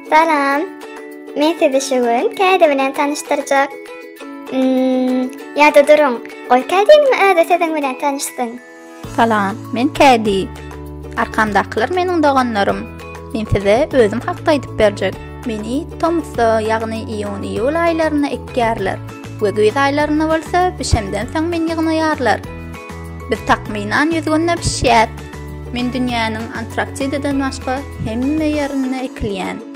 Salam. Men sizi şu gün käde bilen tanyşdyrjak. Hmm, ýa-da duruň, goý käde bilen özi siziň bilen tanyşsyn. Salam, men Kädi. Arkamdakylar meniň doganlarym. Men size özüm hakda aýdyp berjek. Meni tomusda, ýagny iýun-iýul aýlarynda ekýärler we güýz aýlarynda bolsa bişemden soň meni ýygnaýarlar. Biz takmynan ýüz günde bişýäs. Men dünýäniň Antarktidadan başga hemme ýerinde ekilýän.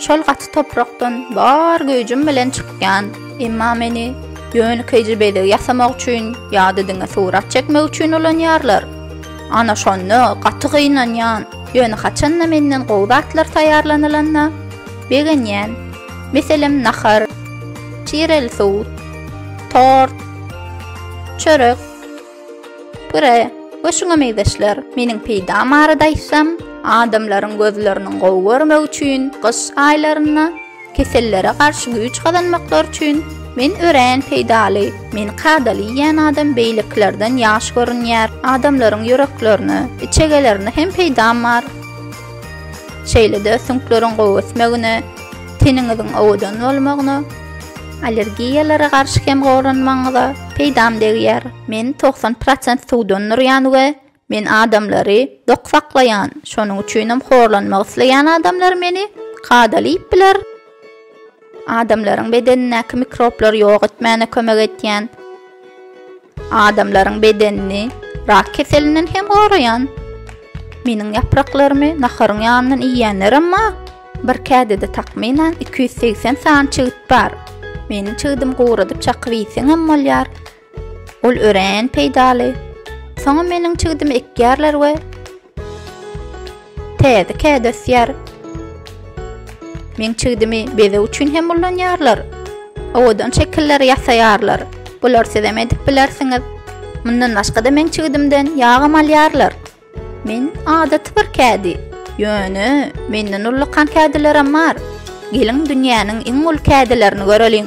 Şol gaty toprakdan bar güýjüm bilen çykýan, emma meni ýönekeýje bezeg ýasamak üçin ýa-da diňe surat çekmek üçin ulanýarlar. Ana şonda gaty gynanýan, ýöne haçan-da menden gowy zatlar taýýarlanylanda begenýän. Meselem nahar, çireli suw, tort, çörek. Gyraý, we şuňa meýzeşler, meniň peýdam barada aýtsam, adamlaryň gözleriniň gowy görmegi üçin gyş aýlarynda, kesellere garşy güýç gazanmaklary üçin men örän peýdaly, meni kadaly iýýän adam beýlekilerden ýaş görünýär, adamlaryň ýüreklerine, içegelerine hem peýdam bar. Şeýle-de süňkleriň gowy ösmegine, teniňiziň owadan bolmagyna, Allergiýalara garşy hem goranmagyňyza peýdam degýär. Men togsan prosent suwdan durýan we men adamlary dok saklaýan, şonuň üçinem horlanmak isleýän adamlar meni kadaly iýip biler. Adamlaryň bedenindäki mikroblary ýok etmäne kömek edýän. Adamlaryň bedenini rak keselinden hem goraýan meniň ýapraklarymy naharyň ýanyndan iýýänler emma bir kädede takmynan iki ýüz segsen sany çigit bar. Meniň çigidim guradyp çakyp iýseň hem bolýar. Ol örän peýdaly. Soňam meniň çigidimi ekýärler we Täze kädi ösýär. Meň çigdimi bezeg üçin hem ulanýarlar. Owadan şekilleri ýasaýarlar. Bular siz hem edip bilersiňiz. Mundan başga-da meň çigdimden ýagam alýarlar. Men adaty bir kädi. Ýöne menden ullakan kädilerim bar. Geliň dünýäniň iň uly kädilerini göreliň.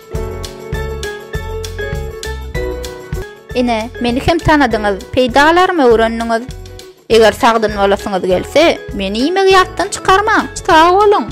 Ine, meni hem tanadyňyz, peýdalarymy öwrendiňiz. Eger sagdyn bolasyňyz gelse, meni iýmegi ýatdan çykarmaň. Sag boluň!